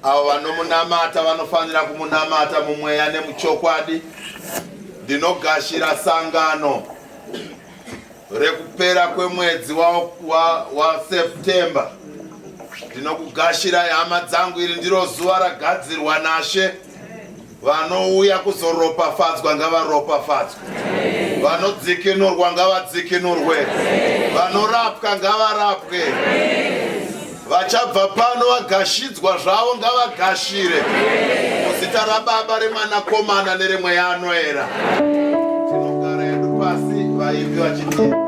avo vanomunamata vanofanira kumunamata mumweya nemuchokwadi ndinogashira sangano rekupera kwemwedzi waseptember wa, wa ndinokugashira hama dzangu iri ndiro zuva ragadzirwa nashe Vanouya kuzoropafadzwa ngavaropafadzwe, vanodzikinurwa ngavadzikinurwe, vanorapwa ngavarapwe, vachabva pano vagashidzwa zvavo ngavagashire muzita raBaba remwanakomana neremweya anoera. Tinogara yedu pasi vaimbi vachiti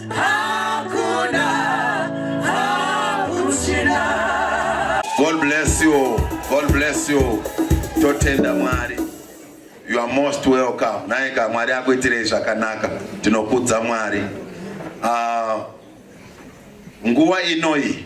Hakuna, hakuchina. God bless you. God bless you. Totenda Mwari. You are most welcome. Naika Mwari akuitirei zvakanaka. Tinokudza Mwari. Uh, nguva inoyi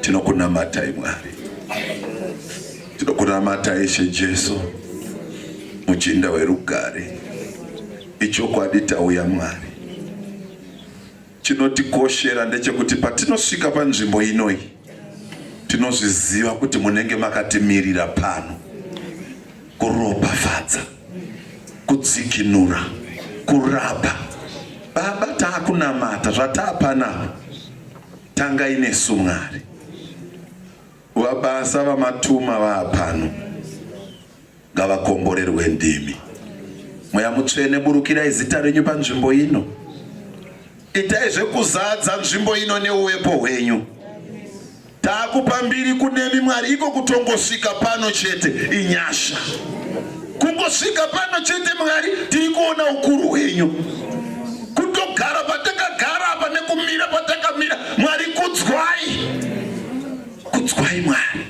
tinokunamatai mwari tinokunamatai ishe jesu muchinda werugare ichokwadi tauya mwari Chinotikoshera ndechekuti patinosvika panzvimbo inoi tinozviziva kuti munenge makatimirira pano kuropafadza kudzikinura kurapa baba taakunamata zvataapanapa tanga inesu mwari vabasa vamatuma vaapano ngavakomborerwe ndimi. Mweya mutsvene, burukirai zita renyu panzvimbo ino. Itai zvekuzadza nzvimbo ino neuwepo hwenyu. Takupa mbiri kunemi Mwari, iko kutongosvika pano chete inyasha. Kungosvika pano chete Mwari, tiri kuona ukuru hwenyu. Kutogara patakagara apa nekumira patakamira, Mwari kudzwai, kudzwai Mwari,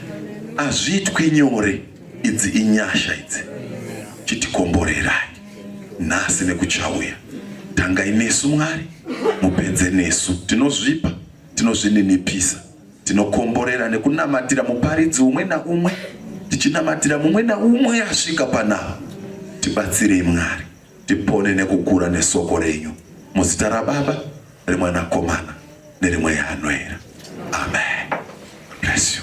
hazviitwi nyore. Idzi inyasha idzi, chitikomborerai nhasi nekuchauya. Tangai nesu Mwari, mupedze nesu. Tinozvipa, tinozvininipisa, tinokomborera nekunamatira muparidzi umwe naumwe, tichinamatira mumwe naumwe asvika panapa. Tibatsirei Mwari, tipone nekukura nesoko renyu, muzita raBaba, reMwanakomana nerimwe yaanoera. Amen. Bless you.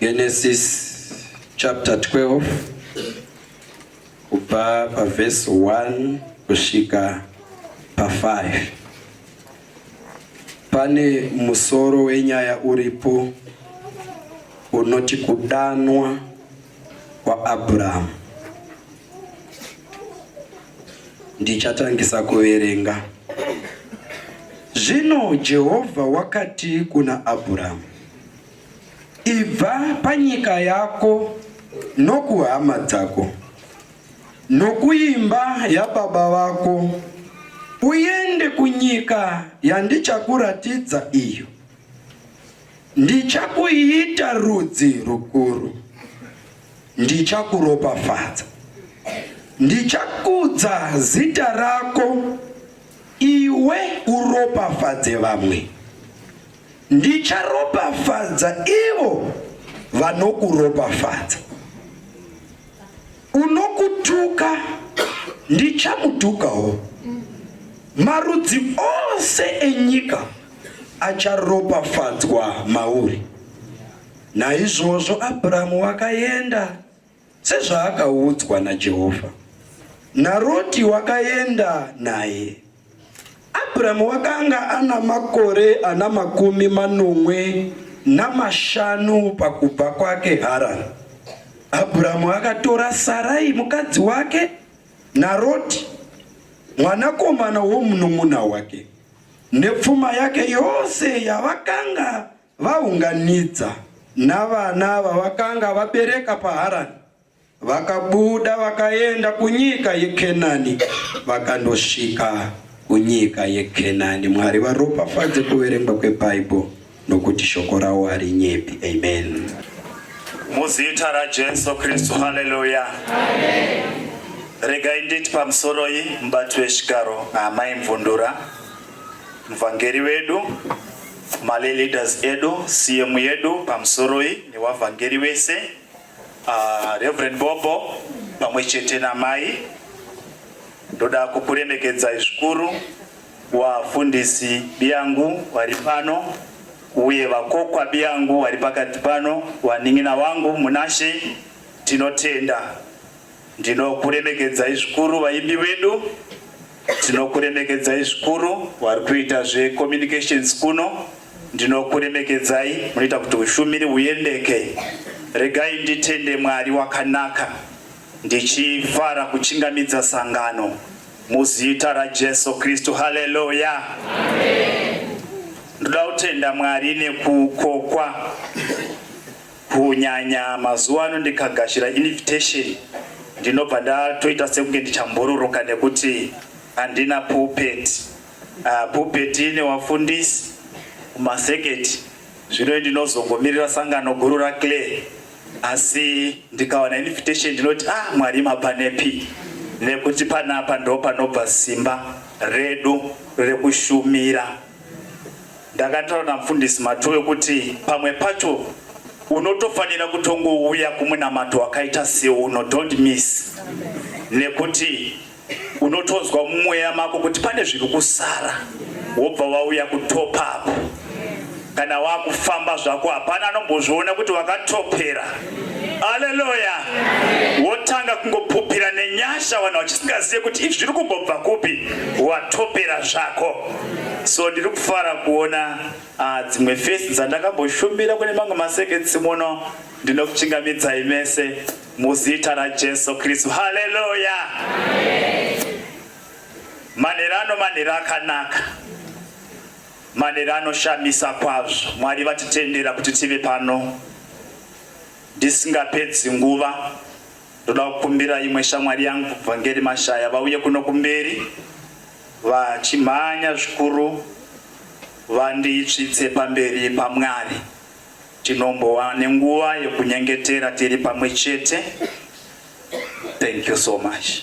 Genesis chapter 12 kubva paverse 1 kusvika pa5. Pane musoro wenyaya uripo unoti kudanwa kwaAbrahamu. Ndichatangisa kuverenga. Zvino Jehovha wakati kuna Abrahamu, Ibva panyika yako nokuhama dzako nokuimba yababa vako uende kunyika yandichakuratidza iyo. Ndichakuita rudzi rukuru, ndichakuropafadza, ndichakudza zita rako, iwe uropafadze vamwe. Ndicharopafadza ivo vanokuropafadza, unokutuka ndichamutukawo. Marudzi ose enyika acharopafadzwa mauri. Naizvozvo Abrahamu wakaenda sezvaakaudzwa naJehovha. NaRoti wakaenda naye. Abrahamu wakanga ana makore ana makumi manomwe namashanu pakubva kwake Harani. Abrahamu akatora Sarai mukadzi wake naRoti mwanakomana womunun'una wake nepfuma yake yose yavakanga Vaunganidza navana vavakanga vabereka paHarani vakabuda vakaenda kunyika yeKenani vakandosvika kunyika yeKenani. Mwari varopafadze kuverengwa kweBhaibheri nokuti shoko rawo harinyepi. Amen. Muzita raJesu Kristu, haleluya. Regai nditi pamusoroi mubati wechigaro Amai Mvundura, muvhangeri wedu Male leaders edu CM yedu pamusoroi nevavhangeri vese uh, Reverend Bobo pamwe chete namai ndoda kukuremekedzai zvikuru wafundisi biyangu vari pano uye vakokwa biyangu vari pakati pano wanin'ina wangu munashe tinotenda Ndinokuremekedzai zvikuru vaimbi vedu, tinokuremekedzai zvikuru vari kuita zvecommunications kuno, ndinokuremekedzai munoita kuti ushumiri huyendeke. Regai nditende Mwari wakanaka ndichifara kuchingamidza sangano muzita raJesu Kristu. Haleluya, amen. Ndoda kutenda Mwari nekukokwa Kunyanya mazuva ano ndikagashira invitation ndinobva ndatoita sekunge ndichambururuka nekuti handina pulpit. Uh, pulpit ine wafundisi kumaseketi zvino ndinozongomirira sangano guru raclay asi ndikawana invitation ndinoti ah mwari mapanepi nekuti panapa ndo panobva simba redu rekushumira Ndakataura namufundisi Matoyo kuti pamwe pacho unotofanira kutongouya kumunamato wakaita seuno don't miss nekuti unotonzwa mumweya mako kuti pane zviri kusara wobva wauya kutop up kana wakufamba zvako hapana anombozviona kuti wakatopera Haleluya. Wotanga kungopupira nenyasha vanhu vachisingazive kuti izvi zviri kumbobva kupi, watopera zvako. So ndiri kufara kuona ah, dzimwe fesi dzandakamboshumira kune mamwe maseketsi muno. Ndinokuchingamidzai mese muzita raJesu Kristu. Haleluya. Manherano manhero akanaka. Manera anoshamisa kwazvo. Mwari vatitendera kuti tive pano. Ndisingapedzi nguva ndoda kukumbira imwe shamwari yangu Vhangeri Mashaya vauye kuno kumberi vachimhanya zvikuru vanditsvitse pamberi paMwari. Tinombowa nenguva yekunyengetera tiri pamwe chete. Thank you so much.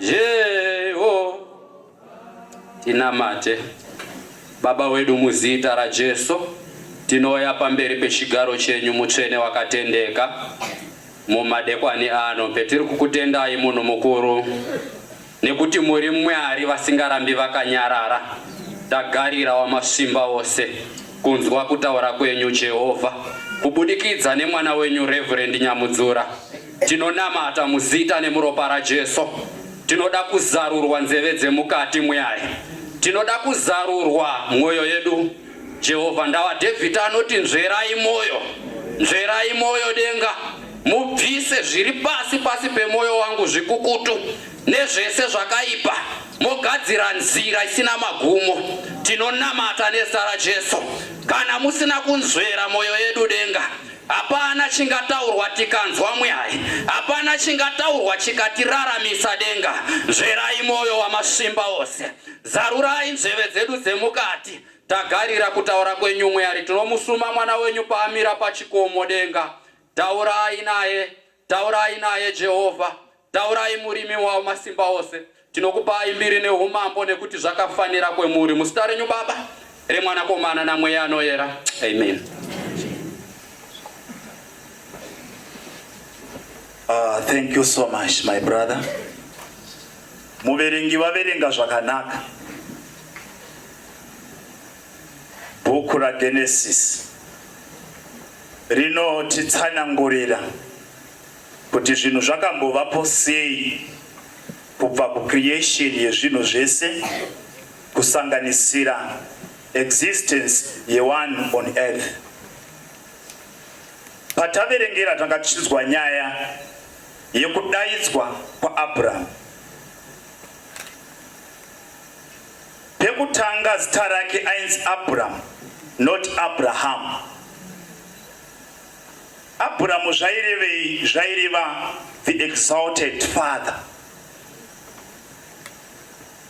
Jeho tinamate Baba wedu muzita raJesu tinoya pamberi pechigaro chenyu mutsvene wakatendeka mumadekwani ano petiri kukutendai munhu mukuru nekuti muri mwari vasingarambi vakanyarara tagarira wamasimba ose kunzwa kutaura kwenyu jehovha kubudikidza nemwana wenyu reverend nyamudzura Tinonamata muzita nemuropa raJesu. Tinoda kuzarurwa nzeve dzemukati mwari. Tinoda kuzarurwa mwoyo yedu. Jehovha ndava David anoti nzverai mwoyo. Nzverai mwoyo denga. Mubvise zviri pasi pasi pemwoyo wangu zvikukutu nezvese zvakaipa mogadzira nzira isina magumo. Tinonamata nezita raJesu. Kana musina kunzvera mwoyo yedu denga. Hapana chingataurwa tikanzwa mwai, hapana chingataurwa chikatiraramisa denga. Nzverai mwoyo wamasimba ose, zarurai nzeve dzedu dzemukati. Tagarira kutaura kwenyu mwari, tinomusuma mwana wenyu paamira pachikomo denga. Taurai naye, Taurai naye Jehovha, taurai murimi wamasimba ose. Tinokupai mbiri neumambo nekuti zvakafanira kwemuri. Muzita renyu Baba, reMwanakomana naMweya anoyera. Amen. Uh, thank you so much my brother. Muverengi vaverenga zvakanaka. Bhuku raGenesisi rinotitsanangurira kuti zvinhu zvakambovapo sei kubva kucreation yezvinhu zvese kusanganisira existence yewanhu on earth. Pataverengera tanga tichinzwa nyaya yekudaidzwa kwaAbrahamu Pekutanga zita rake ainzi Abraham not Abraham. Abraham zvairevei? Zvaireva the exalted father.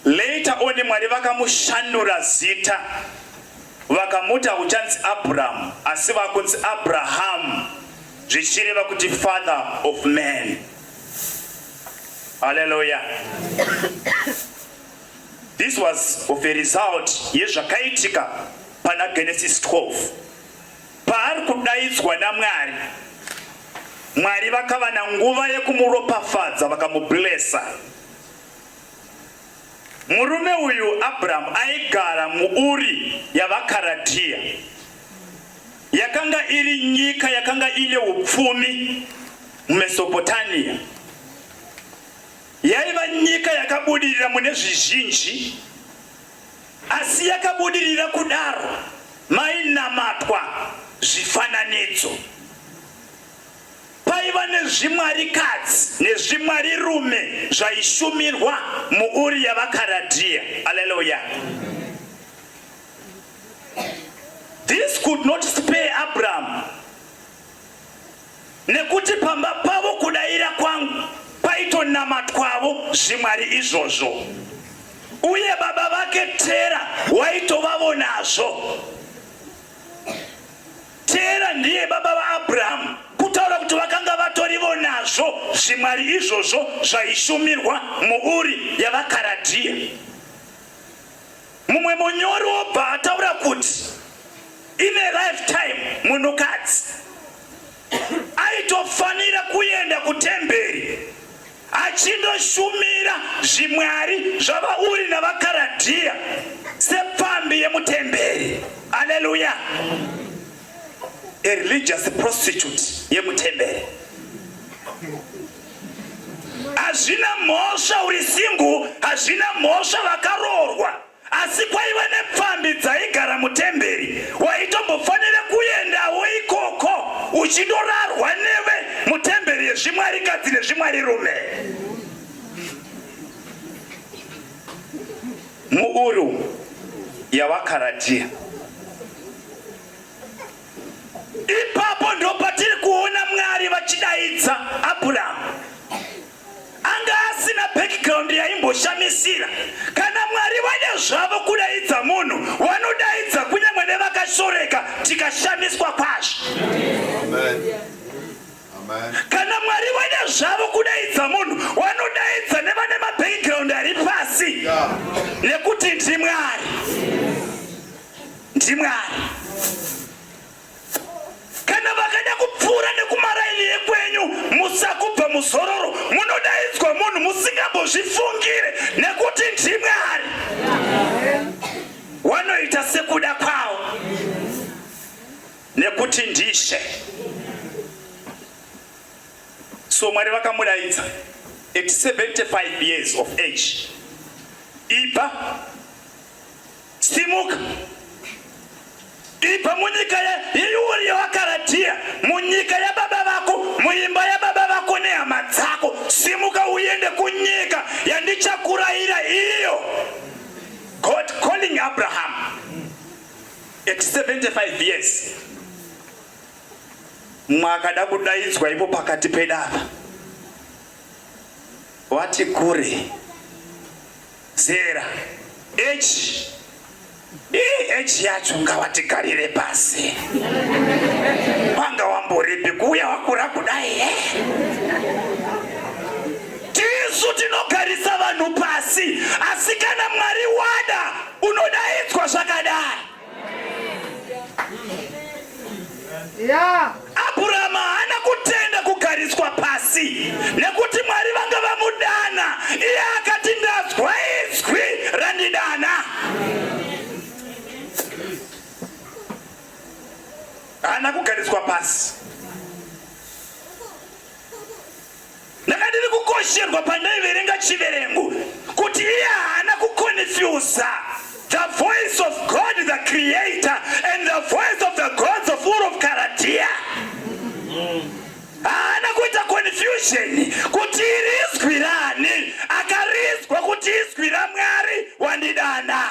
Later on Mwari vakamushandura zita vakamuta kuchanzi Abraham asi vakunzi Abraham zvichireva kuti father of man. Hallelujah. This was of a result yezvakaitika pana Genesis 12 paari kudaidzwa naMwari. Mwari vakava nanguva yekumuropafadza vakamublesa. Murume uyu Abrahamu aigara muUri yavaKaradhiya. Yakanga iri nyika yakanga ine upfumi muMesopotania. Yaiva nyika yakabudirira mune zvizhinji, asi yakabudirira kudaro mainamatwa zvifananidzo. Paiva nezvimwarikadzi nezvimwarirume zvaishumirwa muUri yavaKaradhiya. Aleluya! This could not spare Abraham Nekuti pamba pavo kudaira kwangu kwaitonamatwavo zvimwari izvozvo, uye baba vake Tera waitovavo nazvo. Tera ndiye baba vaAbrahamu, kutaura kuti vakanga vatorivo nazvo zvimwari izvozvo zvaishumirwa muUri yavaKaradhiya. Mumwe munyori obva ataura kuti in a lifetime munhukadzi aitofanira kuenda kutemberi achindoshumira zvimwari zvavauri navakaradhiya sepfambi yemutemberi aleluya a religious prostitute yemutemberi hazvina mhosva uri singu hazvina mhosva vakaroorwa asi kwaiva nepfambi dzaigara mutemberi waitombofanira kuendawo ikoko uchindorarwa neve mutemberi yezvimwari kadzi nezvimwari rume muuru yavakaratiya Ipapo ndopatiri kuona Mwari vachidaidza Abraham. Anga asina background yaimboshamisira. Kana Mwari vane zvavo kudaidza munhu, wanodaidza kunyangwe nevakashoreka tikashamiswa kwazvo. Kana Mwari vane zvavo kudaidza munhu, wanodaidza nevane mabackground ari pasi nekuti ndimwari. ndimwari kana vakada kupfuura nekumaraini yekwenyu musakubva muzororo munodaidzwa munhu musingambozvifungire nekuti ndimwari wanoita sekuda kwavo nekuti ndishe so mwari vakamudaidza at 75 years of age ipa Simuka ibva munyika yeUri yevaKaradhiya, munyika yababa vako, muimba yababa vako nehama dzako. Simuka uende kunyika yandichakurayira iyo. God calling Abraham at 75 years. Mwakada kudaidzwa ipo pakati pedava wati kure Zera H H yacho ngawatigarire pasi wanga wamboripi kuuya wakura kudai eh? tisu tinogarisa vanhu pasi asi kana mwari wada unodaidzwa zvakadai Yeah. Abraham haana kutenda kugariswa pasi nekuti Mwari vanga vamudana iye akati ndazwa izwi randidana. Haana kugariswa pasi. Ndakadini kukosherwa pandaiverenga chiverengo kuti iye haana kukonifyuza the voice of God the creator and the voice of the gods of Ur of Karadia. Haana kuita confusion kuti iri izwi rani, akarizwa kuti izwi raMwari wandidana.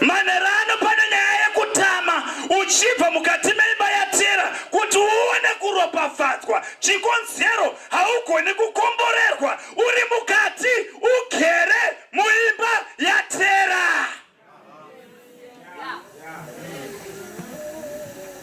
Manhero ano pane nyaya yekutama uchibva mukati meimba yatera kuti uone kuropafadzwa. Chikonzero haugoni kukomborerwa uri mukati ugere muimba yatera.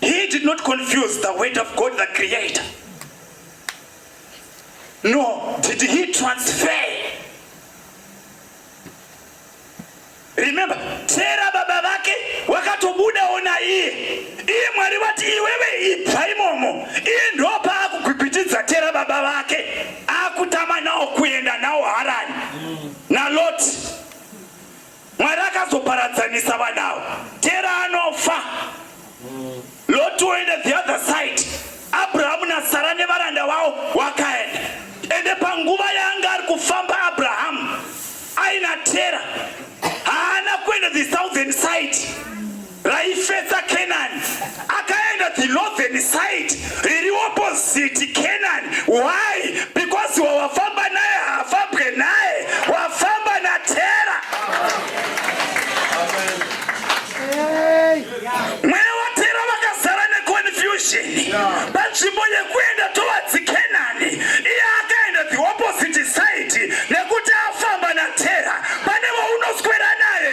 He did not confuse the word of God, the creator. No, did he transfer? Remember, Tera baba vake wakatobuda ona iye. Iye Mwari vati iwewe ibva imomo. Iye ndopa akugwigwitidza Tera baba vake. Akutama nawo kuenda nawo Harani. Na Loti. Mwari akazoparadzanisa vanhu avo. Tera anofa. Loti woenda the other side. Abrahamu naSara nevaranda vavo wakaenda. Ende panguva yaanga ari kufamba Abrahamu aina Tera haana kuenda the southern side. raifetsa Kenani akaenda the northern side riri opposite Kenani why because wawafamba naye haafambwe naye wafamba natera mweya watera vakazara neconfusion panzvimbo yekuenda towards Kenani iye akaenda the opposite side nekuti afamba natera pane waunoswera naye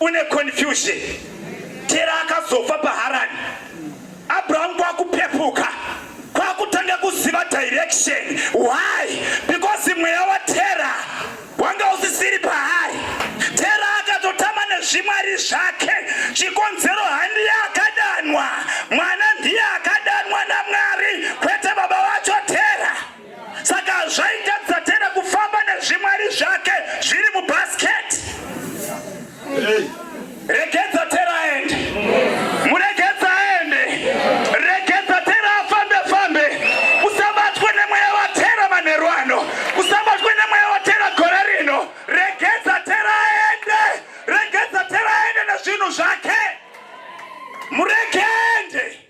une confusion tera akazofa paharani abrahamu kwakupepuka kwakutanga kuziva direction why because mweya watera wanga usisiri paari tera akatotama nezvimwari zvake chikonzero handiye akadanwa mwana ndiye akadanwa namwari kwete baba vacho tera saka zvaitadza tena kufamba nezvimwari zvake zviri mubasket regedza tera aende muregedza aende regedza tera afambe fambe usabatwe nemweya watera manheru ano usabatwe nemweya watera gore rino regedza tera aende regedza tera aende nezvinhu zvake muregende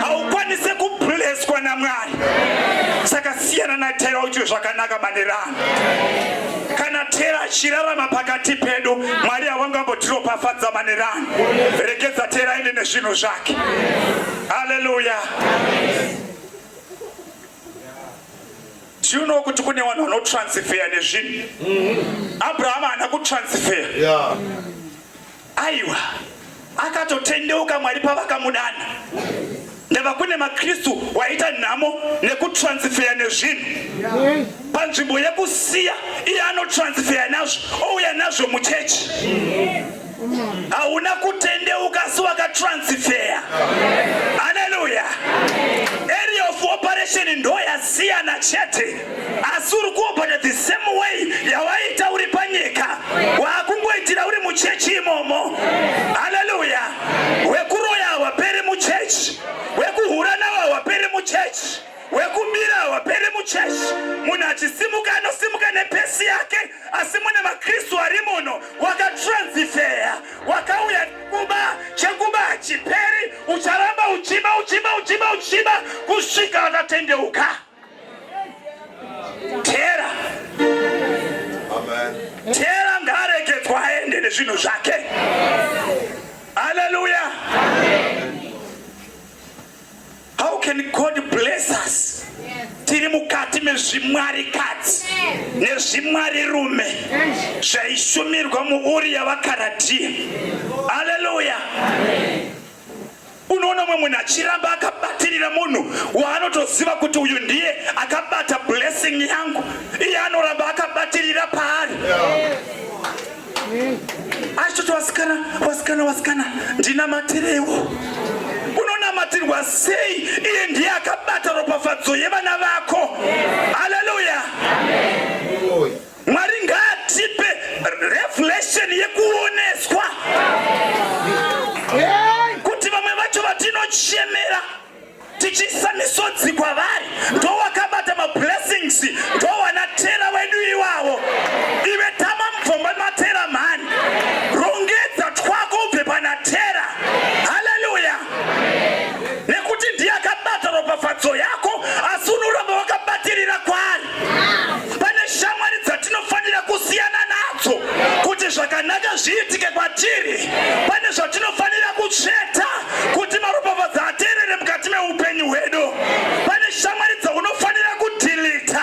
haukwanise kubleswa namwari saka siyana natera uite zvakanaka manerano kana tera achirarama pakati pedu mwari hawangambotiropafadza manerano regedza tera aende nezvinhu zvake haleluya tiunowo kuti kune vanhu vanotransfeya nezvinhu abrahama haana kutransfeya yeah. Aiwa, akatotendeuka Mwari pavakamudana. Ndava kune maKristu waita nhamo nekutransfeya nezvinhu panzvimbo yekusiya iye anotransfeya nazvo ouya nazvo muchechi. Hauna kutendeuka asi wakatransfeya. Haleluya! Area of operation ndoyasiyana chete. asi uri kuopota the same way yawaita uri panyika waakungoitira uri muchechi imomo haleluya wekuroya hawaperi muchechi wekuhura nawo hawaperi muchechi wekumira hawaperi muchechi munhu achisimuka anosimuka nepesi yake asi mune makristu ari muno wakatransifeya wakauya kuba chekuba hachiperi ucharamba uchiba uchiba uchiba uchiba kusvika wakatendeuka Tera. Amen. Tera ngaregedzwa aende nezvinhu zvake. Hallelujah. Amen. How can God bless us? Tiri mukati mezvimwari kadzi nezvimwari rume zvaishumirwa muuri yavakaratia. Hallelujah. Amen. Unoona umwe munhu achiramba akabatirira munhu waanotoziva kuti uyu ndiye akabata blessing yangu, iye anoramba akabatirira paari achitoti wasikana wasikana wasikana ndinamatirewo unonamatirwa sei iye ndiye akabata ropafadzo yevana vako haleluya Mwari ngaatipe revelation yekuoneswa kuti vamwe vacho vatinochemera tichiisa misodzi kwavari ndowakabata mablessings ndowana tera wedu iwavo ive tama mubvomba matera mhani rongedza twako ubve pana tera haleluya nekuti ndiye akabata ropafadzo yako asi unoramba wakabatirira kwaari Pane shamwari dzatinofanira kusiyana nadzo kuti zvakanaka zviitike kwatiri. Pane zvatinofanira kutsveta kuti maropafadzo ateerere mukati meupenyu hwedu. Pane shamwari dzaunofanira kudhilita.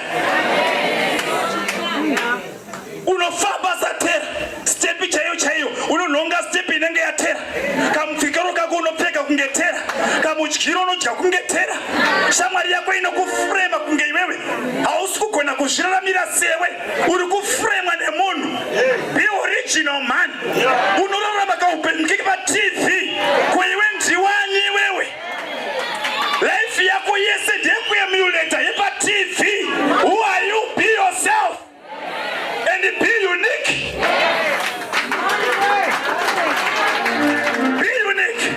unofamba satera stepi chaiyo chaiyo unonhonga stepi inenge yatera kamupfikiro kako unopfeka kunge tera kamudyiro unodya kunge tera shamwari yako inokufurema kunge iwewe hausi kugona kuzviraramira sewe uri kufuremwa nemunhu be original man unorarama kaupenyu keke patv Life yako yese ndeyekuemuleta yepaTV. Who are you? Be yourself and be unique. Be unique.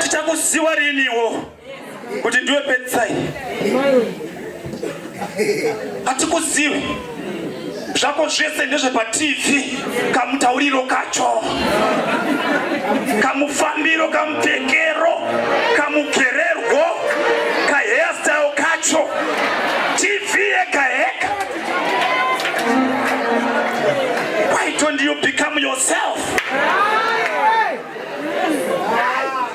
Tichakuziwa riniwo. kuti ndiwe pedzisai hatikuzivi zvako zvese ndezvepatv kamutauriro kacho kamufambiro kamupfekero kamugererwo kahairstyle kacho tv yega yega why don't you become yourself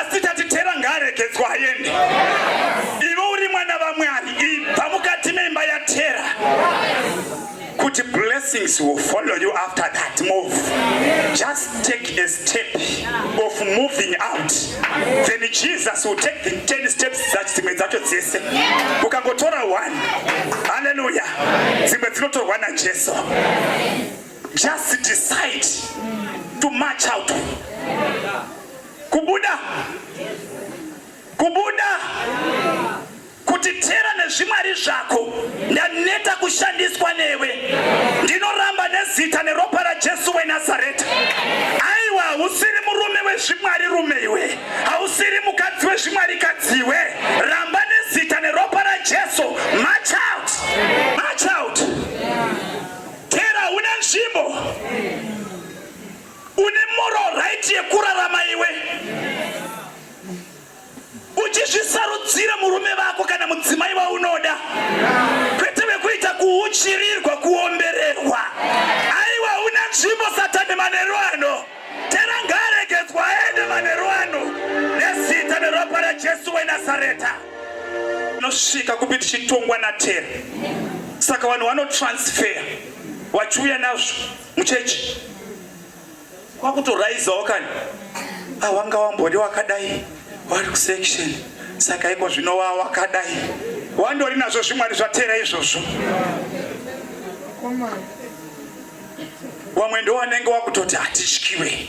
asi tati tera ngaaregedzwa aende iwe uri mwana vamwari ibva mukati meimba yatera kuti blessings will follow you after that move just take a step of moving out then jesus will take the 10 steps dzimwe dzacho dzese ukangotora one haleluya dzimwe dzinotorwa najesu Just decide to march out. Kubuda. Kubuda. Kutitera nezvimwari zvako. Ndaneta kushandiswa newe. Ndinoramba nezita neropa raJesu weNazareta. Aiwa hausiri murume wezvimwari rume iwe. Hausiri mukadzi wezvimwari kadzi iwe. Ramba nezita neropa raJesu. March out. March out. Tera une nzvimbo une moral right yekurarama iwe uchizvisarudzira murume vako kana mudzimai waunoda kwete vekuita kuuchirirwa kuombererwa aiwa una nzvimbo satani manero ano tera ngaaregedzwa aende manero ano nezita neropa rajesu wenazareta Tinosvika kupi tichitongwa naTera? Saka vanhu vanotransfeya vachiuya nazvo muchechi kwakutoraizawo kani awanga ah, wambori wakadai wari kusection saka iko zvino wa wakadai wandori nazvo zvimwari zvatera izvozvo wamwe ndowanenge wakutoti hatityiwe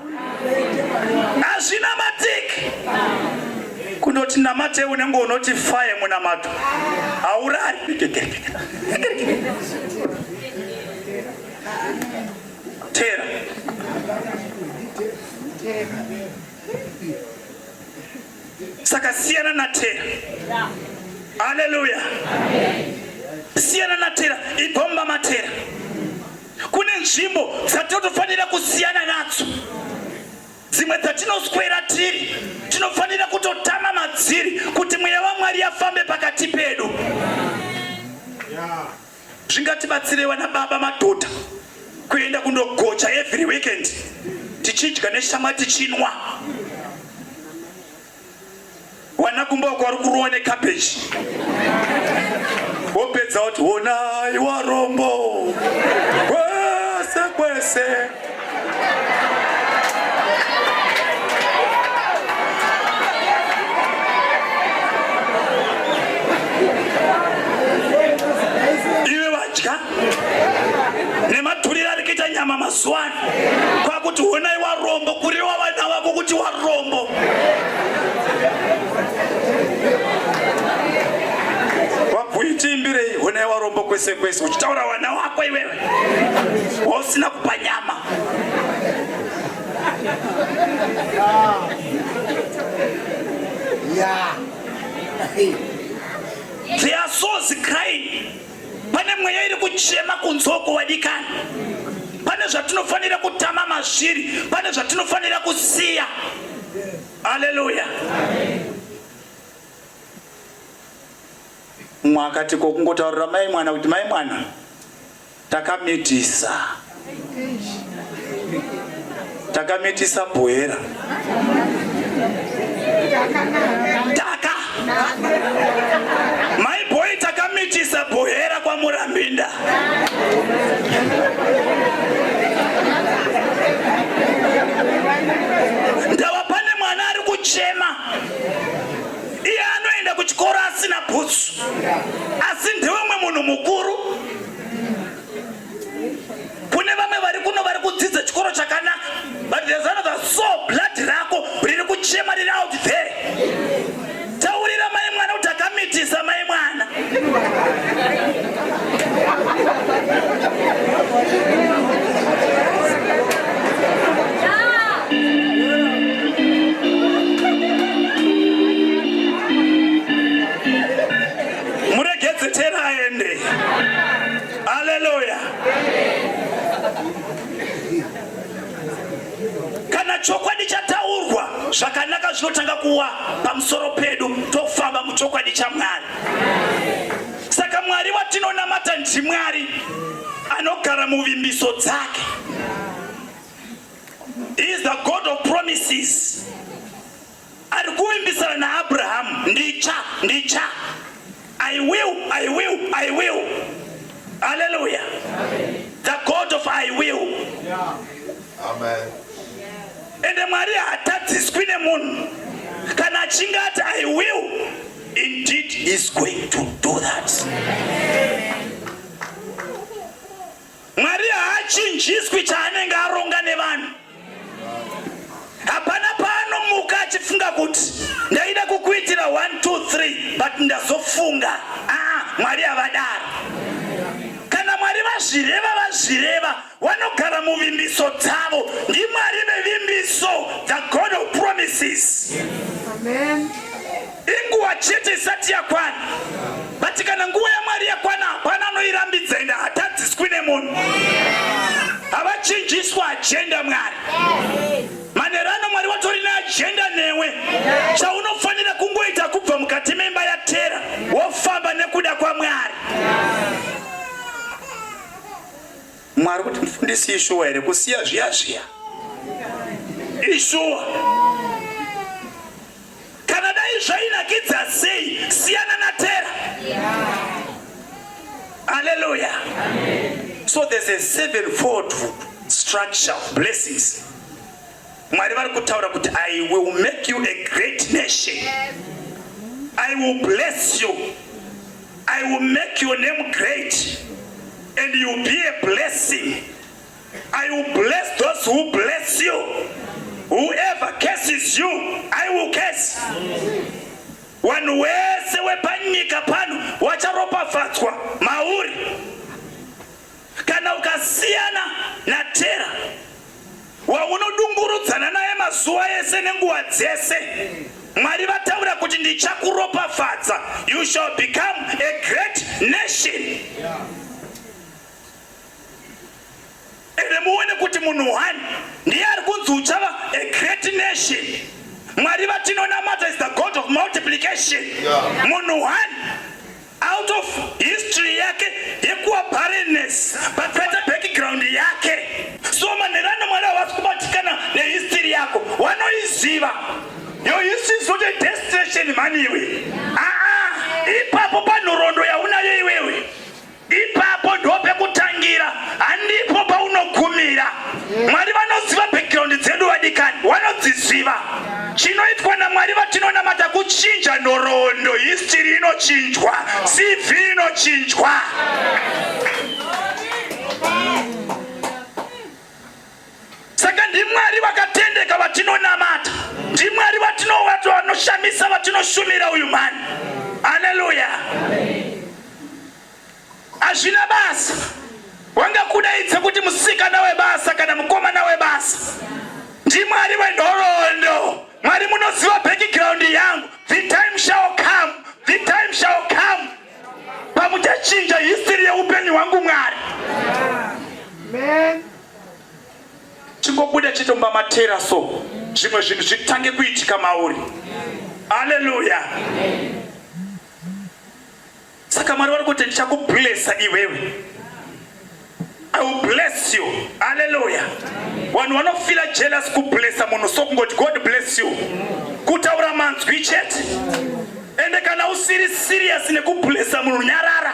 hazvina matiki kunoti namate unenge unoti faye munamato haurari tera saka siyana na tera haleluya siyana na tera igomba matera Kune nzvimbo dzatinotofanira kusiyana nadzo, dzimwe dzatinoswera tiri tinofanira kutotama madziri kuti mweya waMwari afambe pakati pedu. Zvingatibatsirei vana baba madhodha kuenda kundogocha every weekend tichidya neshamwa tichinwa Wana kumba wako wari kurowa necabbage wopedza woti honai warombo kwese kwese nematuriro ari kuita nyama mazuva ano kwakuti honai warombo kuriwa vana vako kuti warombo wabhuitiimbirei honai warombo kwese kwese uchitaura vana wako iwewe wausina kupa nyama Yeah. They are so crying. Pane mweya iri kuchema kunzoko wadikana. Pane zvatinofanira kutama mazviri, pane zvatinofanira kusiya. Haleluya. Mwakati kokungotaurira mai mwana kuti mai mwana takamitisa takamitisa bhoera taka mai boy takamitisa bhoera kwamurambinda ndava pane mwana ari kuchema iye anoenda kuchikoro asina bhutsu asi ndewemwe munhu mukuru kune vamwe vari kuno vari kudzidza chikoro chakanaka but there's another so blood rako riri kuchema riri out there taurira mai mwana kuti akamitisa mai mwana Haleluya! Kana chokwadi chataurwa zvakanaka zvinotanga kuwa pamusoro pedu, tofamba muchokwadi chaMwari. Saka Mwari watinonamata ndiMwari anogara muvimbiso dzake. He is the God of promises. Ari kuvimbisana naAbrahamu, ndicha, ndicha. I will, I will, I will. Hallelujah. Amen. The God of I will. Yeah. Amen. And the Maria hatadziswi nemunhu kana achinge ati I will indeed is going to do that. Amen. Mwari haachinjiswi chaanenge aronga nevanhu. Hapana paanomuka achifunga kuti ndaida kukuitira 1 2 3 but ndazofunga. Ah, Mwari havadaro. Kana Mwari vazvireva vazvireva wanogara muvimbiso dzavo. NdiMwari vevimbiso, the God of promises. Amen. Inguva chete isati yakwana. But kana nguva yaMwari yakwana hapana anoirambidza ende hatadziswi nemunhu. Havachinjiswa agenda Mwari. Manhero ano Mwari watori neagenda newe. Chaunofanira kungoita kubva mukati memba yaTera wofamba nekuda kwaMwari. Mwari kuti mfundisi ishuwa here kusiya zviya zviya? Ishuwa. Kana dai zvainakidza sei siyana na Tera. Hallelujah. So there's a sevenfold structure of blessings. Mwari vari kutaura kuti I will make you a great nation. I will bless you. I will make your name great and you will be a blessing. I will bless those who bless you. Whoever curses you, I will curse. Wanhu wese wepanyika pano wacharopafadzwa mauri. Kana ukasiyana naTera waunodungurudzana naye mazuva ese nenguva dzese, Mwari vataura kuti ndichakuropafadza, you shall become a great nation. Ende muone kuti munhu one ndiye ari kunzi uchava a great nation. Mwari vatinonamata is the God of multiplication. Munhu one out of history yake yekuwa barrenness but better background yake so manhero anamwari havasi kubatikana nehistory yako wanoiziva yo history is not a destination mhani iwe aa ipapo panhorondo yaunayo iwewe ipapo ndo pekutangira handipo paunogumira mwari vanoziva background dzedu vadikani wanodziziva Chinoitwa naMwari vatinonamata kuchinja nhoroondo, history inochinjwa, CV inochinjwa. Saka ndiMwari vakatendeka vatinonamata, ndiMwari vatinowato vanoshamisa vatinoshumira uyu mhani. Haleluya. Hazvina basa. Wanga kudaidza kuti musikana webasa kana mukomana webasa. NdiMwari wenhorondo. Mwari munoziva background yangu. The time shall come. The time shall come. Pamuchachinja history yeupenyu hwangu Mwari. Amen. Chingobuda chitomba matera so. Zvimwe zvinhu zvitange kuitika mauri. Hallelujah. Amen. Saka Mwari vari kuti ndichakublesa iwewe. I will bless you. Hallelujah. Vanhu vanofila jealous kublesa munhu so kungoti God bless you. Kutaura manzwi chete. Ende kana usiri serious nekublesa munhu nyarara.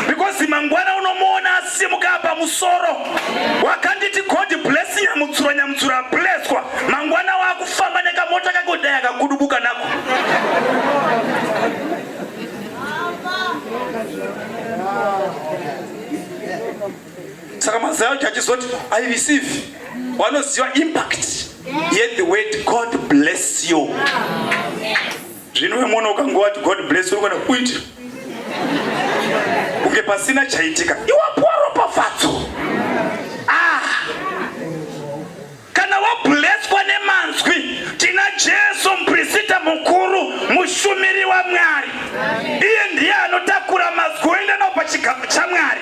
Because mangwana unomuona asimuka apa musoro. wakanditi god bless nyamutsura nyamutsura bleswa mangwana wakufamba nekamota kako dai akakudubuka nako saka mazai acho achizoti i receive wanoziva impact yet the word god bless you yeah. zvino iwe mwana ukange wati god bless uri kuenda kuiti kunge pasina chaitika iwapuwa ropafadzo ah. kana wableswa nemanzwi tina jesu muprisita mukuru mushumiri wamwari iye ndiye anotakura mazwi oenda nao pachigaro chamwari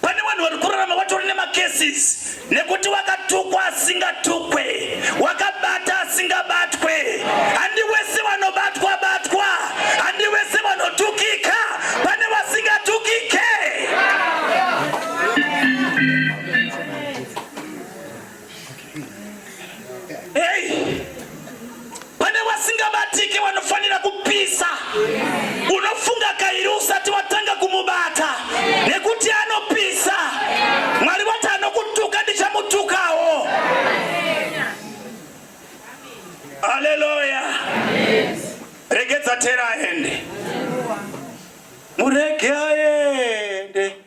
Pane vanhu vari kurarama vatori nemacases nekuti wakatukwa asingatukwe, wakabata asingabatwe. Handi wese vanobatwa batwa, handi wese vanotukika, pane vasingatukike. Hey! Pane vasingabatike vanofanira kupisa. Unofunga kairi usati watanga kumubata nekuti anopisa. Mwari vati anokutuka ndichamutukawo. Haleluya. Regedza tera aende. Murege aende.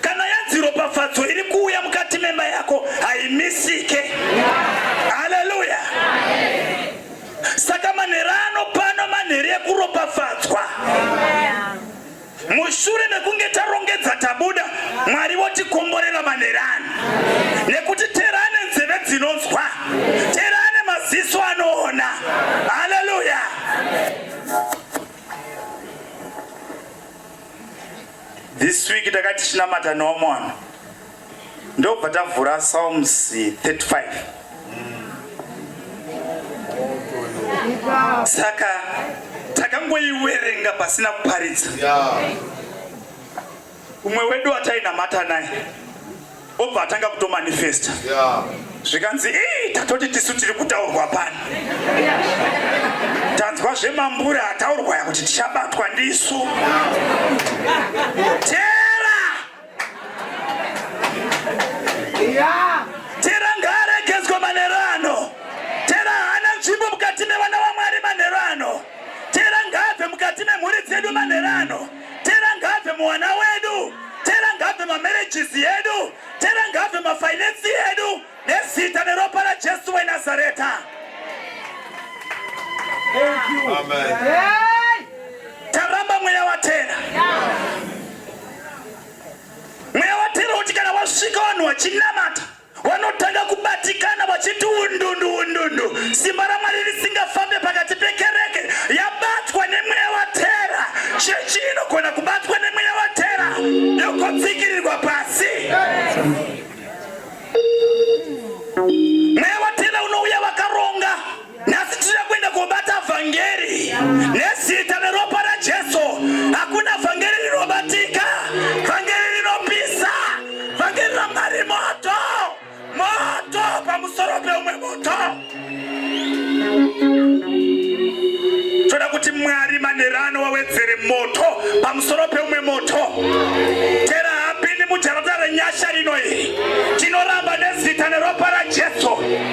Kana yanzi ropafadzo iri kuuya mukati memba yako haimisike. Haleluya! Saka manhere ano pano manhere ekuropafadzwa. Mushure mekunge tarongedza tabuda, Mwari votikomborera manhere ano, nekuti tera ane nzeve dzinonzwa, tera ane maziso anoona. Haleluya! This week takati chinamata neomwana ndobva tavhura Psalms 35 saka takangoiwerenga pasina kuparidza umwe wedu atainamata naye obva atanga kutomanifesta zvikanzi ii tatoti tisu tiri kutaurwa pano tanzwa zvemambura ataurwa ya kuti tichabatwa ndisu tera tera ngaaregezwa manero ano tera haana nzvimbo mukati mevana vamwari manero ano tera ngaabve mukati memhuri dzedu manero ano Tera ngaabve muwana wedu. Tera ngaabve mamarriages edu. Tera ngaabve mafinance edu. Nezita neropa raJesu weNazareta. Thank you. Amen. Hey! Taramba mweya watera. Yeah. Mweya watera uti kana wasvika vanhu wachinamata Vanotanga kubatikana vachiti undundu undundu, simba raMwari risingafambe pakati pekereke yabatwa nemweya watera. Chechi inogona kubatwa nemweya watera yokotsikirirwa pasi. Mweya watera unouya vakaronga. Nhasi tiri kuenda kobata vhangeri nezita neropa raJesu. Hakuna vhangeri rinobatika, vhangeri rinopisa, vhangeri raMwari moto, moto pamusoro peumwe moto. Toda kuti Mwari manherano wawedzere moto pamusoro peumwe moto. Tera hapindi mujarata renyasha rino iri. Tinoramba nezita neropa raJesu.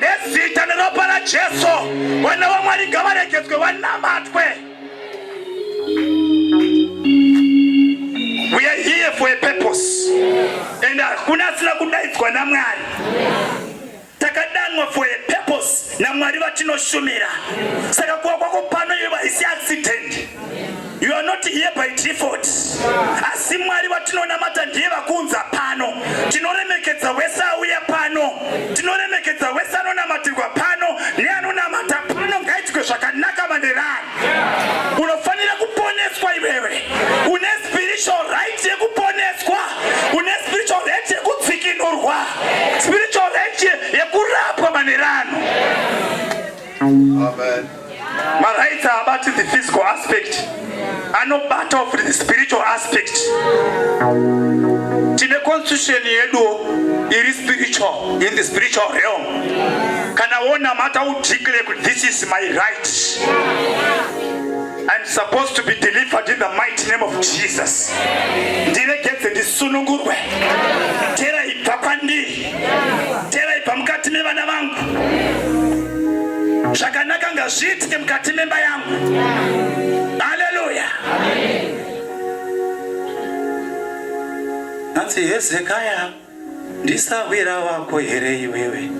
nezita neropa rajesu vana vamwari ngavaregedzwe vanamatwe we are here for a purpose and hakuna asina kudaidzwa namwari takadanwa for a purpose namwari vatinoshumira saka kuva kwako pano iye vaisi accident You are not here by default. Asi Mwari vatinonamata ndiye vakuunza pano. Tinoremekedza wese auya pano. Tinoremekedza wese anonamatirwa pano neanonamata pano ngaitwe zvakanaka manerani. Unofanira kuponeswa iwewe. Une spiritual right yekuponeswa. Une spiritual right yekutsikinurwa. Spiritual right yekurapwa manerano. Amen. Marights haabati the physical aspect, anobatawo futi the spiritual aspect. Tine constitution yeduwo iri spiritual, in the spiritual realm. Kana wonamata u declare kuti this is my right. I'm supposed to be delivered in the mighty name of Jesus. Ndiregedze ndisunungurwe. Tera ibva kwandiri. Teraipa mukati mevana vangu. Zvakanaka ngazviitike mukati memba yangu. Haleluya. Hanzi Hezekaya ndisahwira wako here iwewe?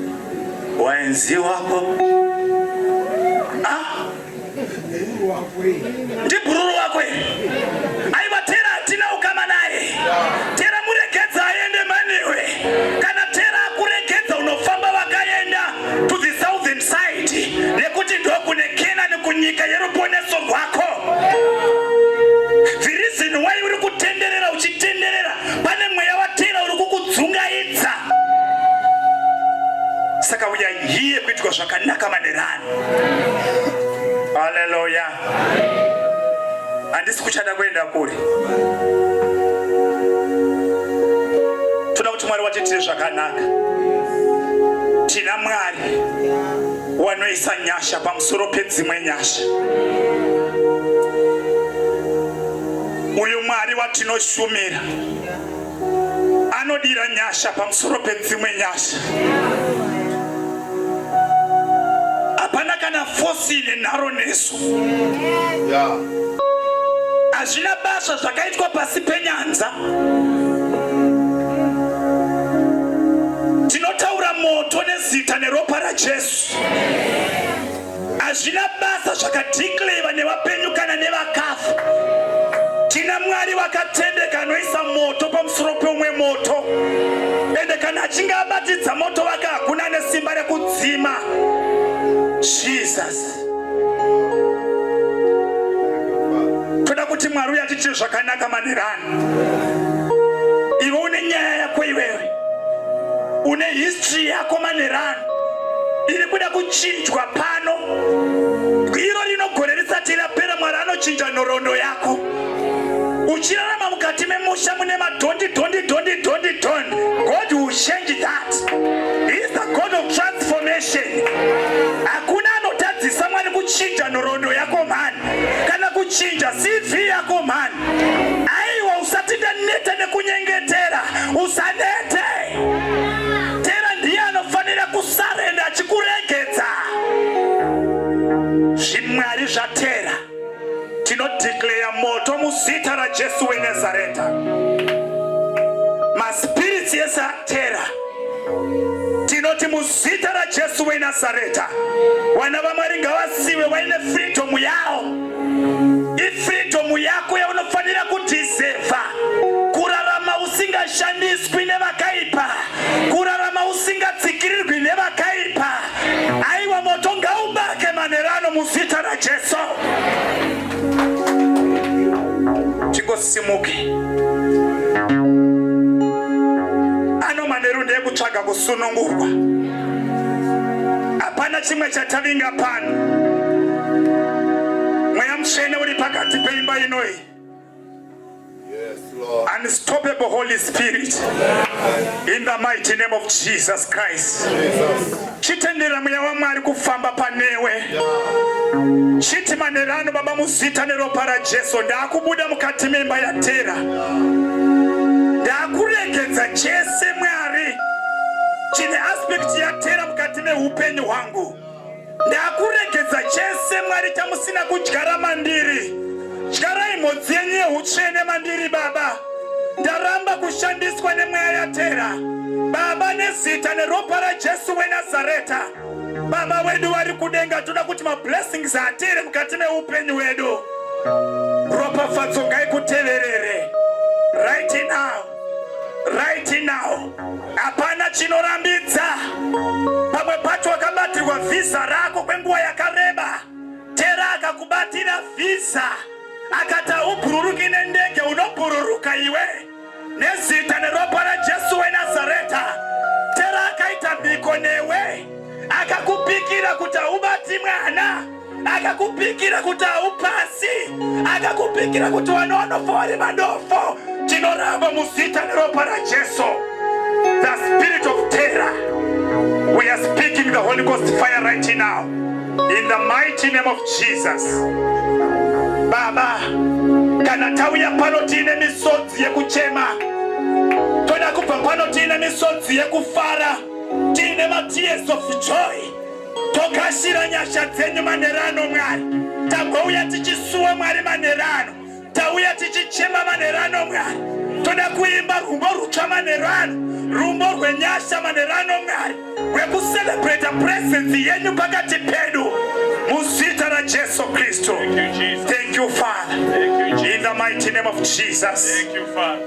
Waenzi wako? Ah, ndibhururu wako aiwa tera hatina ukama naye tera muregedza aende manewe kana tera akuregedza unofamba vakaenda to the southern side nekuti ndokune kenani kunyika yeruponeso rwako the reason why uri kutenderera uchitenderera pane mweya watera uri kukudzungaidza saka uyai hiye kuitwa zvakanaka manerani Haleluya. Handisi kuchada kuenda kure. Toda kuti Mwari watiitire zvakanaka. Tina Mwari wanoisa nyasha pamusoro pedzimwe nyasha. Uyu Mwari watinoshumira anodira nyasha pamusoro pedzimwe nyasha hapana kana fosi ine nharo nesu hazvina basa zvakaitwa pasi penyanza tinotaura moto nezita neropa rajesu Hazvina basa zvakadhikleva nevapenyu kana nevakafa. Tina Mwari vakatendeka anoisa moto pamusoro peumwe moto. Ende kana achinge abatidza moto wake hakuna ane simba rekudzima. Jesus. Toda kuti Mwari uya tichiri zvakanaka manirani. Iwe une nyaya yako iwewe. Une history yako manirani. iri kuda kuchinjwa pano iro rinogore risati rapera mwari anochinja nhoroondo yako uchirarama mukati memusha mune madhondi dhondi dhondi dhondi don god will change that he is the god of transformation hakuna anotadzisa mwari kuchinja nhoroondo yako mhani kana kuchinja cv yako mhani aiwa usati ndaneta nekunyengetera usanete Tera ndiye anofanira kusarenda achikuregedza. Zvimwari zvatera tinodeclare moto muzita raJesu weNazareta. Maspirits ese atera tinoti muzita raJesu weNazareta, vana vaMwari ngavazive vaine freedom yavo. ifreedom yako yaunofanira kudhisevha kurarama usingashandiswi nevakaipa kurarama usingatsikirirwi nevakaipa aiwa moto ngaubake manherano muzita rajesu tingosimuke anomanheru ndeyekutsvaga kusunungurwa Hapana chimwe chatavinga pano. Mweya mutsvene uri pakati peimba inoi. Unstoppable Holy Spirit. In the mighty name of Jesus Christ. Chitendera mweya waMwari kufamba panewe. Chiti manerano baba muzita neropa raJesu ndakubuda mukati memba yatera. Ndakuregedza chese mweya chine aspect yatera mukati meupenyu hwangu ndakuregedza chese mwari chamusina kudyara mandiri dyarai mhodzi yenyu yeutsvene mandiri baba ndaramba kushandiswa nemweya yatera baba nezita neropa rajesu wenazareta baba wedu vari kudenga toda kuti mablessings atere mukati meupenyu wedu ropafadzo ngaikuteverere right now right now hapana chinorambidza pamwe pacho wakabatirwa vhiza rako kwenguva yakareba tera akakubatira vhiza akati haubhururuki nendege unobhururuka iwe nezita neropa rajesu wenazareta tera akaita mhiko newe akakupikira kuti haubati mwana akakupikira kuti haupasi akakupikira kuti vana vanofa vari vadofo tinoramba muzita neropa rajesu the spirit of terror we are speaking the holy ghost fire right now in the mighty name of jesus baba kana tauya pano tiine misodzi yekuchema toda kubva pano tiine misodzi yekufara tiine matears of joy Tokashira nyasha dzenyu manhero ano Mwari. Tagouya tichisuwa Mwari manhero ano. Tauya tichichema manhero ano Mwari. Toda kuimba rumbo rutsva manhero ano. Rumbo rwenyasha manhero ano Mwari. Rwekucelebrata presence yenyu pakati pedu. Muzita raJesu Kristu. Thank you Father. In the mighty name of Jesus. Thank you Father.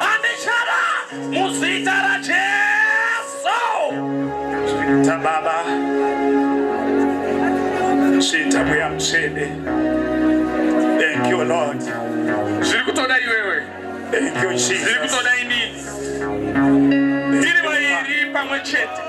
Andichera muzita raJesu. Chiita Baba, chiita Mweya Mutsvene. Thank you Lord. Zviri kutoda iwewe. Thank you Jesus. Zviri kutoda ini. Tiri vairi pamwe chete.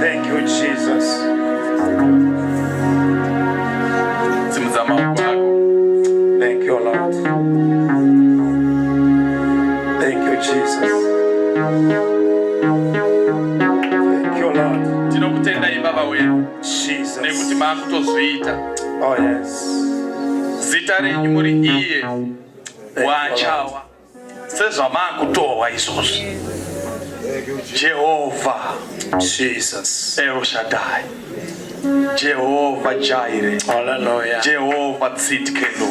Thank you, Jesus. Thank you, Lord. Thank you, Jesus. Thank you, Lord. Tinokutendai Baba wedu. Jesus. Nekuti maakutozviita. Oh yes. Zita renyu muri iye. wachawa sezvamakutorwa izvozvi jehovha jesus eroshadai jehovha jaire haleluya jehovha tsitkelo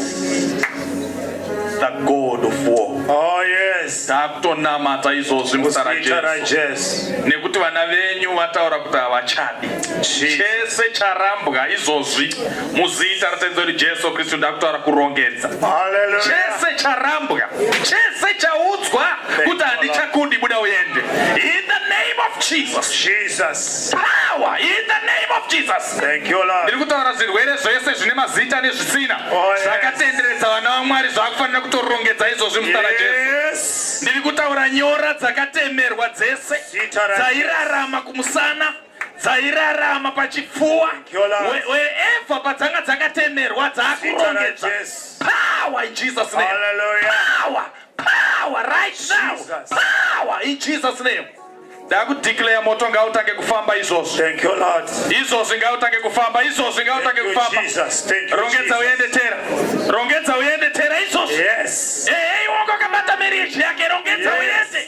the god of war oh yes takutonamata izvozvi muzita rajesu nekuti vana venyu vataura kuti havachadi chese charambwa izvozvi muzita ratenzi wedu jesu kristu ndakutaura kurongedza chese charambwa chese chaudzwa kuti handichakundi buda uende in the name of jesus jesus power in the name of jesus thank you lord ndiri kutaura zvirwere zvese zvine mazita nezvisina oh, zvakatenderedza vana vamwari zvakufanira kutorongedza izvozvi muzita rajesu ndiri kutaura nyora dzakatemerwa dzese dzairarama kumusana dzairarama pachipfuwa wherever padzanga dzakatemerwa dzakurongedza power in jesus name power power right now power in jesus name ndakudeclare moto ngautange kufamba izvozvo izvozvi ngautange kufamba izvozvi ngautange kufamba rongedza uende tera rongedza uende tera izvozvi ehe iwongo akabata mirishi yake rongedza uende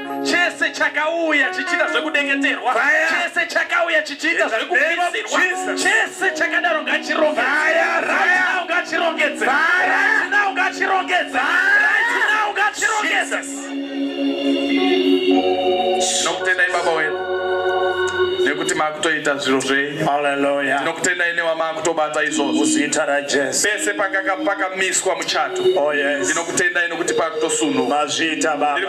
chese chakauya chichiita zvekudengeterwa chese chakauya chichiita zvekupisirwa chese chakadaro ngachirongedze ngachirongedze ngachirongedze nokutendai baba wedu nekuti makutoita zviro zvenyu haleluya tinokutendai newamakutobata izvozvo zita rajesu pese pakakamiswa muchato oh yes ndinokutendai nekuti pakutosunhu mazvita baba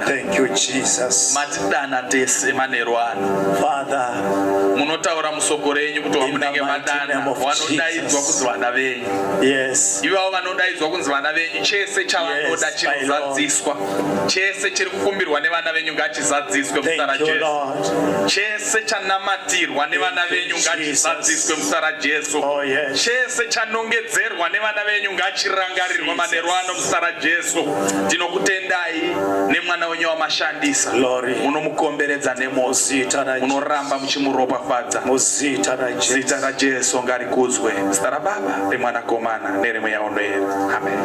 Thank you Jesus. Matidana tese manheru ano. Father, munotaura musoko renyu kuti wamunenge madana vanodaidzwa kunzi vana venyu. Yes. Ivavo vanodaidzwa kunzi vana venyu chese chavanoda yes, chinozadziswa. Chese chiri kukumbirwa nevana venyu ngachizadziswe muzita raJesu. Chese chanamatirwa nevana venyu ngachizadziswe muzita raJesu. Oh, yes. Chese chanongedzerwa nevana venyu ngachirangarirwe manheru ano muzita raJesu. Ndinokutendai. nemwana wenyu wamashandisa munomukomberedza nemozita munoramba muchimuropafadza muzita razita rajesu ngarikudzwe zita rababa remwanakomana neremweya unoera amen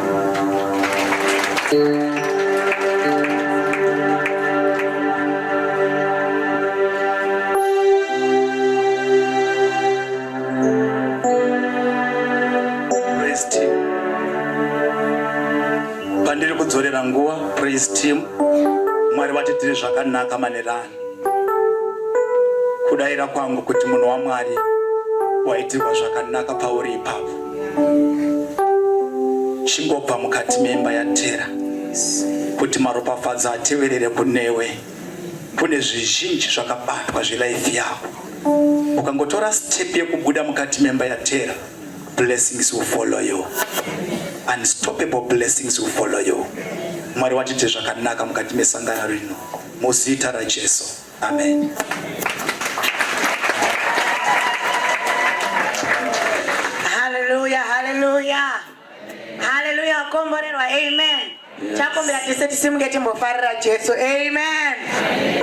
pandiri kudzorera nguva praise team mwari vatiitire zvakanaka manerani kudaira kwangu kuti munhu wamwari waitirwa zvakanaka pauri ipapo chingobva mukati memba yatera kuti maropafadzo ateverere kunewe kune zvizhinji zvakabatwa zvelife yako ukangotora step yekubuda mukati memba yatera blessings will follow you unstoppable blessings will follow you mwari watite zvakanaka mukati mesangano rino muzita rajesu amen haleluya haleluya haleluya wakomborerwa amen chakumbira tese tisimuke timbofarira jesu amen, amen.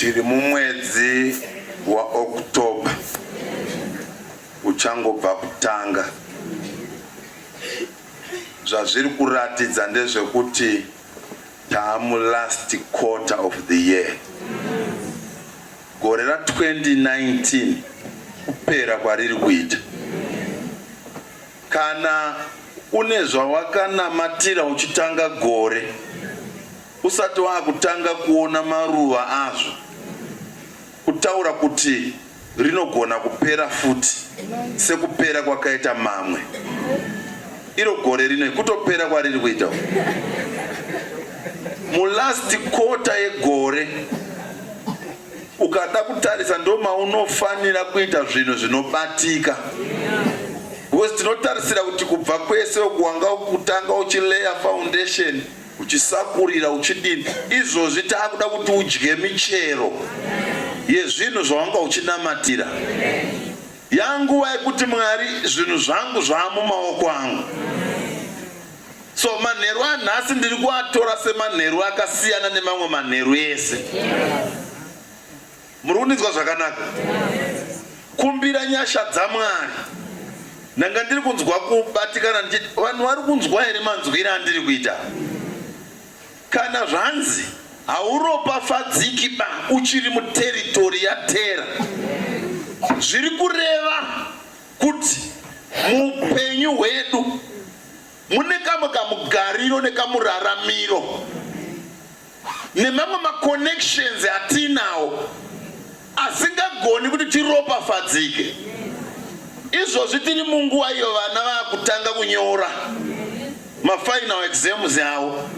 tiri mumwedzi waOctober uchangobva kutanga. Zvazviri kuratidza ndezvekuti Taamu last quarter of the year. Gore ra 2019 kupera kwariri kuita. Kana une zvawakanamatira uchitanga gore usati wakutanga kuona maruva azvo kutaura kuti rinogona kupera futi sekupera kwakaita mamwe iro gore rino kutopera kwariri kuita mulast kota yegore ukada kutarisa ndomaunofanira kuita zvinhu zvinobatika because tinotarisira kuti kubva kwese ukuwanga kutanga uchileya foundation uchisakurira uchidini izvozvi taakuda kuti udye michero yezvinhu zvawanga uchinamatira yanguva yekuti mwari zvinhu zvangu zvaamumaoko angu so manheru anhasi ndiri kuatora semanheru akasiyana nemamwe manheru ese Muri kundinzwa zvakanaka? Kumbira nyasha dzaMwari. Ndanga ndiri kunzwa kubatikana ndichiti vanhu vari kunzwa here manzwire andiri kuita? Kana zvanzi hauropafadziki ba uchiri muteritori yatera zviri kureva kuti muupenyu hwedu mune kamwe kamugariro nekamuraramiro nemamwe maconnections atinawo asingagoni kuti tiropafadzike izvozvi tiri munguva iyo vana vakutanga kunyora mafinal exams avo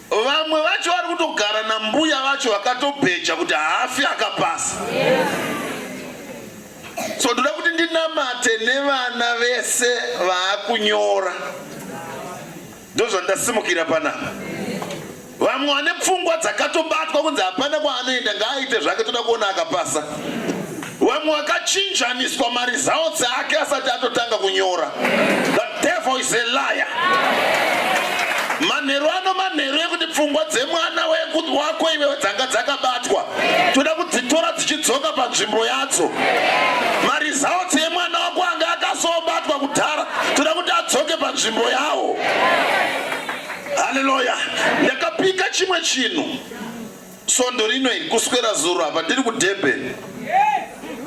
vamwe vacho vari kutogara nambuya vacho vakatobheja kuti haafi akapasa so ndoda kuti ndinamate nevana vese vaakunyora ndozvandasimukira panapa vamwe vane pfungwa dzakatobatwa kunzi hapana kwaanoenda ngaaite zvake toda kuona akapasa vamwe vakachinjaniswa mari zawo dzeake asati atotanga kunyora the devil is a liar manheru ano manheru ekuti pfungwa dzemwana wako iwewe dzanga dzakabatwa toda kudzitora dzichidzoka panzvimbo yadzo mari zawo Kwange akazobatwa kudhara toda kuti adzoke panzvimbo yawo. Haleluya. Ndakapika chimwe chinhu svondo rino iri kuswera zuro apa ndiri kudurban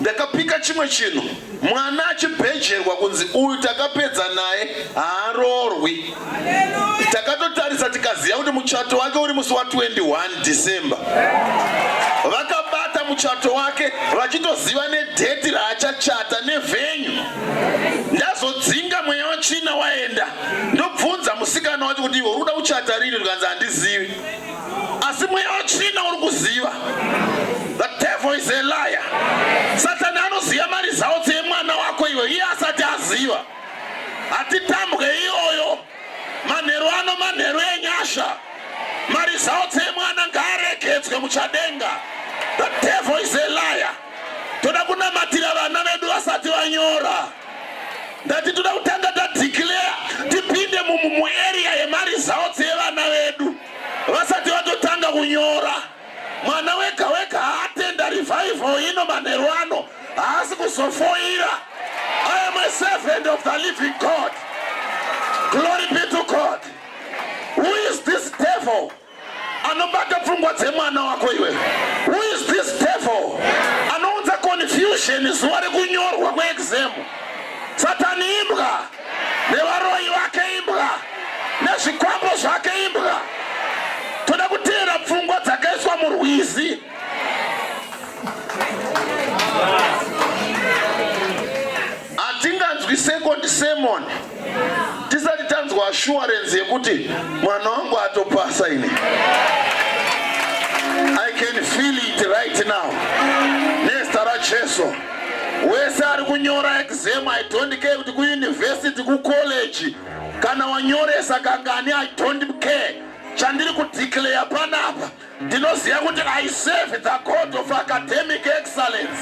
ndakapika chimwe chinhu mwana achibhejerwa kunzi uyu takapedza naye haaroorwi takatotarisa tikaziva kuti muchato wake uri musi wa 21 december vakabata muchato wake vachitoziva nedheti raachachata nevhenyu ndazodzinga mweya wachina waenda ndobvunza musikana wacho kuti iwe uri kuda kuchata rini ndikanzi handizivi asi mweya wachina uri kuziva the devil is a liar satani anoziva mari zawo dzemwana wako iwe iye asati aziva hatitambwe iyoyo manheru ano manheru enyasha mari zao dzemwana ngaaregedzwe muchadenga the devil is a liar toda kunamatira vana vedu vasati vanyora ndati toda kutanga tadeclare tipinde mumuarea yemari zao dzevana vedu vasati vatotanga kunyora Mwana wega wega haatenda revival ino manheru ano haasi kuzofoira. I am a servant of the living God. Glory be to God. Who is this devil? Anobata pfungwa dzemwana wako iwe. Who is this devil? Anounza confusion zuva rekunyorwa kweexam. Satani imbwa. nevaroyi vake imbwa nezvikwambo zvake imbwa toda kuteera pfungwa dzakaiswa murwizi hatinganzwi second sermon tisati tanzwa assurance yekuti mwana wangu atopasa ini i can feel it right now nezita rajesu wese ari kunyora exam i don't care kuti kuuniversity kucollege kana wanyoresa kangani i don't care chandiri kudeclare panapa ndinoziva kuti i serve the code of academic excellence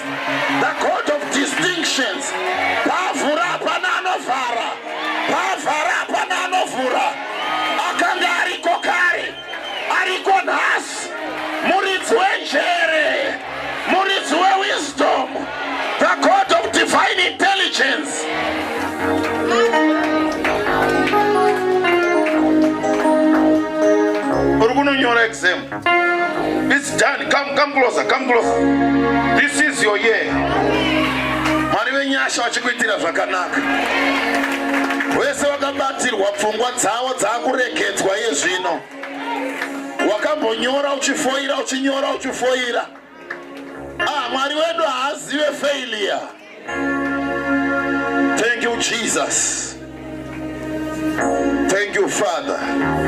the code of distinctions pavhura hapana anovhara pavhara hapana anovhura ariko nhasi muridzi wenjere muridzi wewisdom the god of divine intelligence uri kunonyora exam it's done come come closer come closer this is your year mwari venyasha vachikuitira zvakanaka vese vakabatirwa pfungwa dzavo Dzakuregedzwa iye zvino. Wakambonyora uchifoira uchinyora uchifoira. Ah, Mwari wedu haazive failure. Thank you Jesus. Thank you Father.